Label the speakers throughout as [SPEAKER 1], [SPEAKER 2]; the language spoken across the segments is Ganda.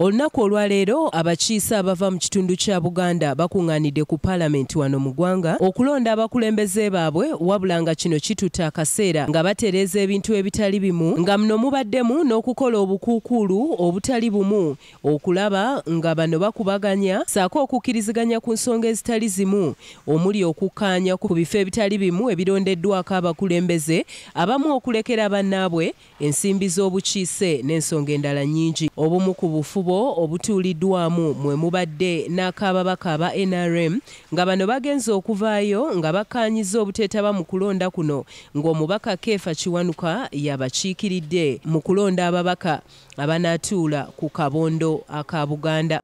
[SPEAKER 1] Olunaku olwaleero abakiise abava mu kitundu kya Buganda bakunganidde ku palamenti wano mu gwanga okulonda abakulembeze baabwe wabula nga kino kitutte akaseera nga batereeza ebintu ebitali bimu nga muno mubaddemu n'okukola obukuukuulu obutali bumu okulaba nga bano bakubaganya saako okukkiriziganya ku nsonga ezitali zimu omuli okukkaanya ku bifo ebitali bimu ebirondeddwako abakulembeze abamu okulekera bannaabwe ensimbi z'obukiise n'ensonga endala nnyingi. Obumu ku bufubo obutuuliddwamu mwe mubadde n'ak'ababaka aba nrm nga bano bagenze okuvaayo nga bakkaanyizza obuteetaba mu kulonda kuno ng'omubaka Keefa Kiwanuka y'abakiikiridde mu kulonda ababaka abanaatuula ku kabondo aka Buganda.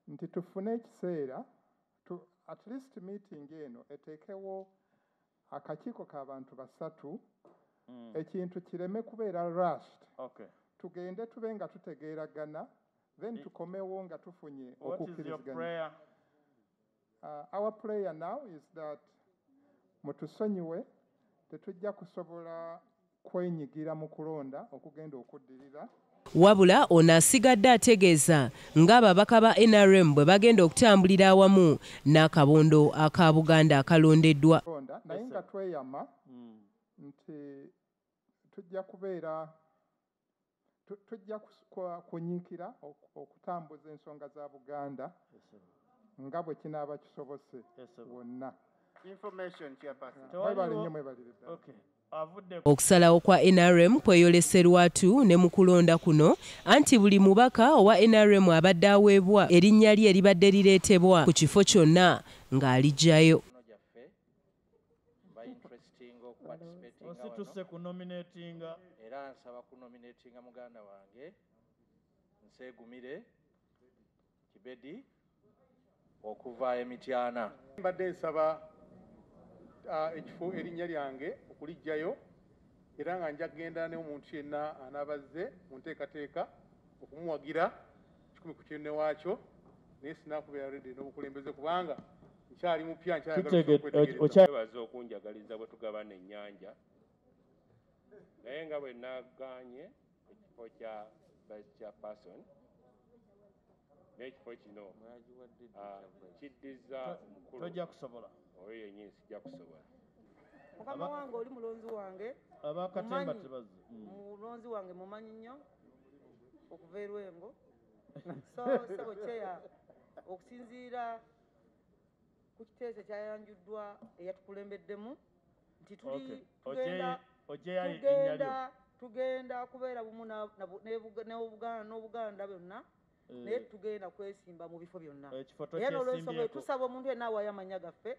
[SPEAKER 1] nti tufune
[SPEAKER 2] ekiseera at least meeting eno eteekewo akakiiko ka bantu basatu mm. ekintu kireme kubeera rushed okay. tugende tube nga tutegeeragana then tukomewo nga tufunye okukkiriziganya uh, our prayer now is that mutusonyiwe tetujja kusobola kwenyigira mu kulonda okugenda okuddirira. Wabula
[SPEAKER 1] ono asigadde ategeeza ng'ababaka ba nrm bwe bagenda okutambulira awamu n'akabondo aka Buganda akalondeddwa. Naye nga
[SPEAKER 2] tweyama nti tujja kubeera Tujja kunyiikira okutambuza ensonga za Buganda nga bwe kinaaba kisobose wonna. Mwebale nnyo mwebalire
[SPEAKER 1] ddala. Okusalawo kwa nrm kweyolese lwatu ne mu kulonda kuno anti buli mubaka owa nrm abadde aweebwa erinnya lye libadde lireetebwa ku kifo kyonna ng'aligyayo. bainterestinga
[SPEAKER 3] okuparticipatinga wano osituse kunominatinga era nsaba kunominatinga muganda wange nsegumire kibedi okuva emityana mbadde nsaba
[SPEAKER 2] uh, ekifo erinnya lyange okulijjayo era nga nja kugenda ne omuntu yenna anaabazze mu nteekateeka okumuwagira kikumi ku kinne waakyo naye sinakubeera redi n'obukulembeze kubanga nkyali mupya nkyayagalaokyebaza
[SPEAKER 4] okunjagaliza bwe tugabana ennyanja naye nga bwe naganye ekifo kya vice chairperson n'ekifo kino ah, kiddiza omukulu
[SPEAKER 3] oyo yennyini sijja
[SPEAKER 4] kusobola mukama
[SPEAKER 5] wange oli mulonzi wange abakatemba
[SPEAKER 3] tebazze mm. mulonzi wange
[SPEAKER 5] mumanyi nnyo okuva erwengo so sebo kyeya okusinziira ku kiteeso ekyayanjuddwa eyatukulembeddemu nti tuli Okay. tugenda Ojeyi- Ojeyi ayi tugenda enyalyo. tugenda kubeera bumu na- na bu- ne Buga- ne Buga- n'obuganda byonna Eh. naye tugenda kwesimba mu bifo byonna Ekifo era n'olwensonga eyo tokyesimbyeko. tusaba omuntu yenna awaayo amannya gaffe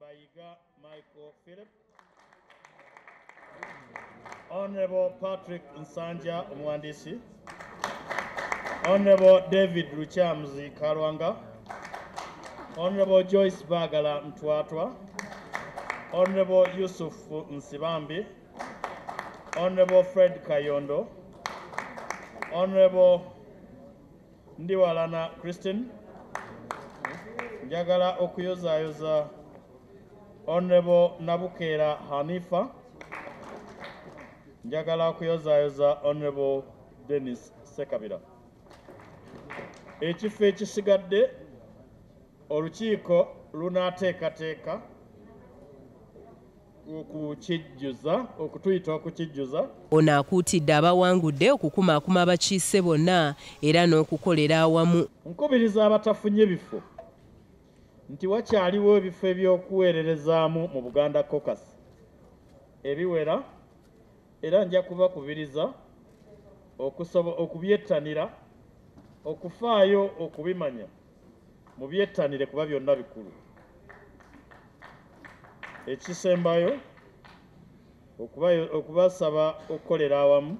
[SPEAKER 1] By Yiga Michael Philip.
[SPEAKER 3] Honorable Patrick Nsanja Mwandisi. Honorable David Ruchamuzi Kalwanga. Honorable Joyce Bagala Mtwatwa. Honorable Yusuf Nsibambi. Honorable Fred Kayondo. Honorable Ndi Walana Christine. Njagala okuyozaayoza Honorable Nabukeera Hanifa. Njagala okuyozaayoza Honorable Dennis Sekabira. Ekifo ekisigadde olukiiko lunaateekateeka okukijjuza okutuyita okukijjuza ono akuutidde
[SPEAKER 1] abawangudde okukumaakuma abakiise bonna era n'okukolera awamu nkubiriza abatafunye
[SPEAKER 3] bifo nti wakyaliwo ebifo eby'okuweererezaamu mu buganda cocas ebiwera era nja kubakubiriza okubyettanira okufaayo okubimanya mubyettanire kuba byonna bikulu ekisembayo okubasaba okukolera awamu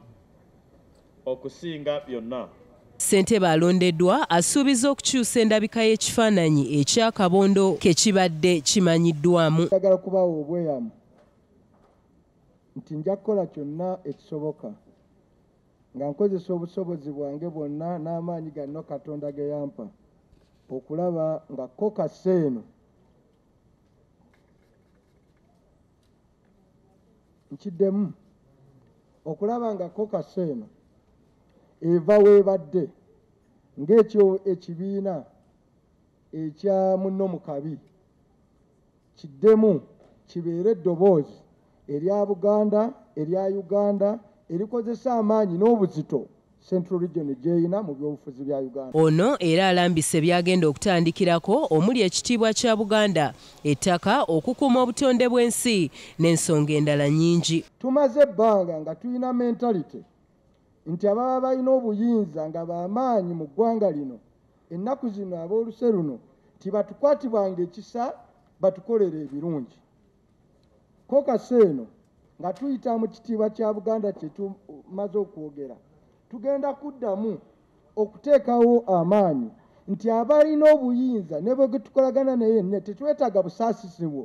[SPEAKER 3] okusinga byonna
[SPEAKER 1] ssentebe alondeddwa asuubiza okukyusa endabika y'ekifaananyi ekyakabondo kekibadde kimanyiddwamu agala okubawa
[SPEAKER 6] obweyamu nti nja kukola kyonna ekisoboka Nga nkozesa obusobozi bwange bwonna n'amaanyi ganno Katonda ge yampa okulaba nga kokasi eno nkiddemu okulaba nga kokasi eno eva weebadde ng'ekyo ekibiina ekya munno mu kabi kiddemu kibeere eddoboozi erya Buganda erya Uganda erikozesa amaanyi n'obuzito Central Region gyeyina mu byobufuzi bya Uganda. Ono era alambise
[SPEAKER 1] byagenda okutandikirako omuli ekitiibwa kya Buganda, ettaka, okukuuma obutonde bw'ensi n'ensonga endala nyingi. Tumaze ebbanga
[SPEAKER 6] nga tulina mentality nti ababa balina obuyinza nga bamaanyi mu ggwanga lino Ennaku zino ab'oluse luno tibatukwatibwanga ekisa batukolera ebirungi. Ko kasa eno nga tuyita mu kitiibwa kya Buganda kye tumaze okwogera, tugenda kuddamu okuteekawo amaanyi nti abalina obuyinza ne bwe tukolagana naye ne tetwetaaga busaasisi bwo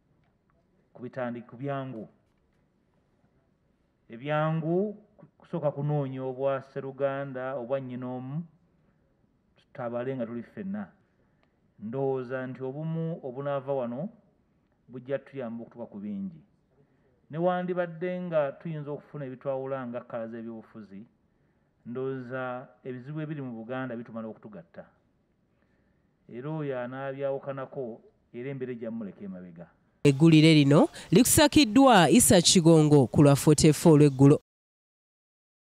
[SPEAKER 7] kubitandi kubyangu ebyangu kusooka kunoonya obwa seruganda obwa nnyina omu tutabale nga tuli ffenna ndowooza nti obumu obunaava wano bujja tuyamba okutuka ku bingi newandibadde nga tuyinza okufuna ebitwawula nga kkala z'ebyobufuzi ndowooza ebizibu ebiri mu buganda bitumala okutugatta Era oyo anaabyawukanako era embeera ejja mumuleka emabega. Eggulire
[SPEAKER 1] lino likusakiddwa Isa Kigongo ku lwa 44 olw'eggulo.